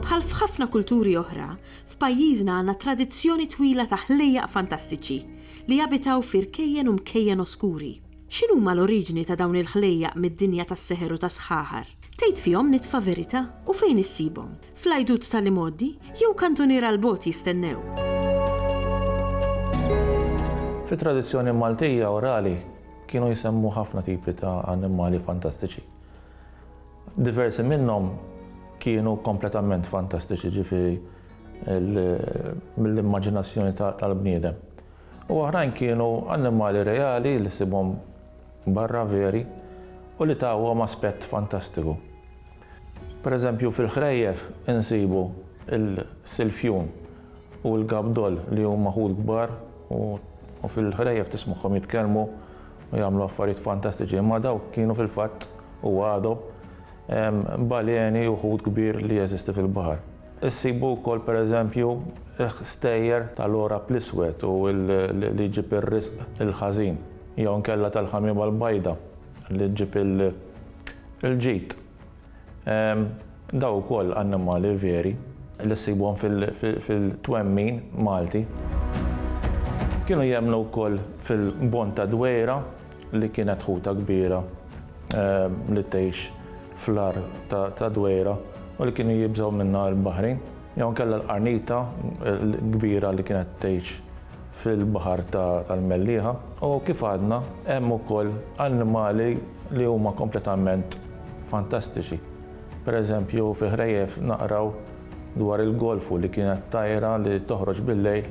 Bħal f'ħafna kulturi oħra, f'pajjiżna għandna tradizzjoni twila ta' ħlejjaq fantastiċi li jabitaw fi rkejjen u mkejjen oskuri. X'inhuma l-oriġini ta' dawn il-ħlejjaq mid-dinja tas-seħer u tas-sħaħar? Tgħid fihom nitfa' verità? U fejn issibhom? Fl-għidut tal-imgħoddi? Jew kantuniera 'l bogħod jistennew? Fit-tradizzjoni Maltija orali kienu jsemmu ħafna tipi ta' annimali fantastiċi. Diversi minnhom kienu kompletament fantastiċi, ġifieri mill-immaġinazzjoni tal-bniedem. U oħrajn kienu annimali reali li ssibhom barra veri u li tawhom aspett fantastiku. Pereżempju, fil-ħrejjef insibu l-silfjun u l-gabdol li huma ħut kbar u fil-ħrejjef tismagħhom jitkellmu u jagħmlu affarijiet fantastiċi, imma dawk kienu fil-fatt, u għadhom, baleni u ħut kbir li jeżisti fil-baħar. Issibu wkoll, pereżempju, stejjer tal-għorab l-iswed u li jġib ir-riżq il-ħażin, jew inkella tal-ħamiema l-bajda li ġġib il-ġid. Dawn ukoll annimali veri li ssibhom fil-twemmin Malti. Kienu jemmnu wkoll fil-bont tad-dwejra. li kienet ħuta kbira li tgħix fl-għar ta' dwejra u li kienu jibżgħu minnha l-baħrin, jew inkella l-qarnita l-kbira li kienet tgħix fil-baħar tal-mellieħa. U kif għadna, hemm ukoll annimali li huma kompletament fantastiċi. Pereżempju, fi ħrejjef naqraw dwar il-golfu li kienet tajra li toħroġ bil-lejl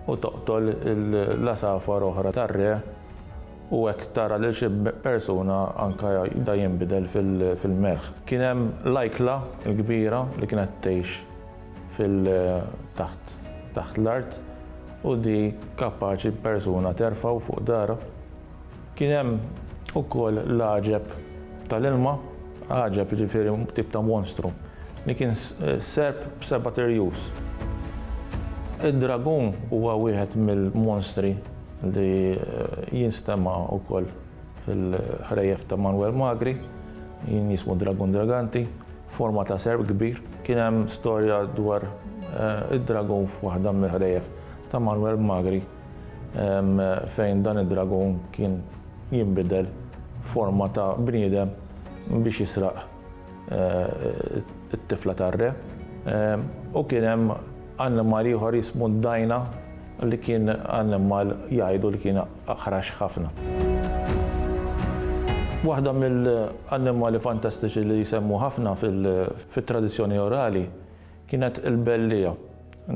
u toqtol l-għasafar oħra tar-re, U hekk tara lil xi persuna anke jibda jinbidel fil-melħ. Kien hemm l-ajkla l-kbira li kienet tgħix fil taħt taħt l-art u di kapaċi persuna terfgħu fuq darha. Kien hemm ukoll l-għaġeb tal-ilma, għaġeb jiġifieri tip ta' monstru li kien serp b'sebat irjus. Id-dragun huwa wieħed mill-monstri li jinstema' wkoll fil-ħrejjef ta' Manwel Magri, jien jismu Dragun Draganti, forma ta' serp kbir. Kien hemm storja dwar id-dragun f'waħda mill-ħrejjef ta' Manwel Magri fejn dan id-dragun kien jinbidel f'forma ta' bniedem biex jisraq it-tifla tar-re. U kien hemm annimal ieħor jismu d-dajna. Li kien annimal jgħidu li kien aħrax ħafna. Waħda mill-annimali fantastiċi li jsemmu ħafna fit-tradizzjoni orali kienet il-belliegħa.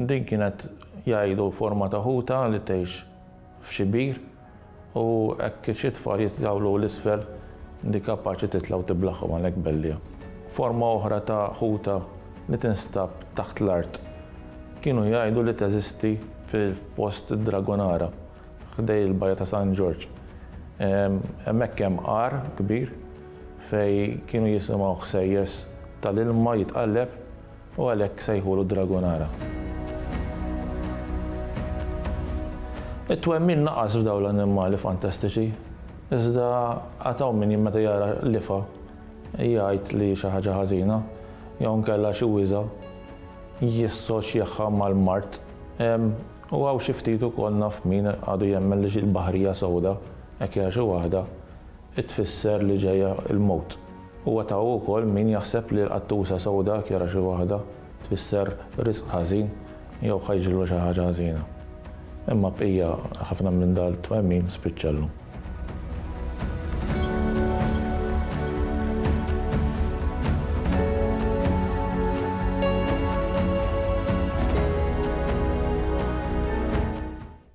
Din kienet jgħidu forma ta' ħuta li tgħix f'xi bir. U hekk xi tfal jitgawlu 'l isfel li kapaċi titla' u tiblaghom għalhekk bellija. Forma oħra ta' ħuta li tinstab taħt l-art. Kienu jgħidu li teżisti f'post id-Dragonara, ħdej il-bajja ta' San Ġorġ. Hemmhekk hemm għar kbir fejn kienu jisimgħu ħsejjes tal-ilma jitqalleb. U għalhekk sejħulu d-Dragonara. It-twemmin naqas f'dawn l-annimali fantastiċi, iżda għad hawn min meta jara lifa jgħid li xi ħaġa ħażina jew inkella xi wiża jissoċjahha mal-mard. U hawn xi ftit ukoll naf min għadu jemmen li xi l-baħrija sewda, hekk jara xi waħda, hi tfisser li ġejja l-mewt. Huwa ta' ukoll min jaħseb li l-qattusa sewda jekk jara xi waħda tfisser riżq ħażin jew ħa jiġrilha xi ħaġa ħażina. Imma bqija ħafna minn dal-twemmin spiċċa llum.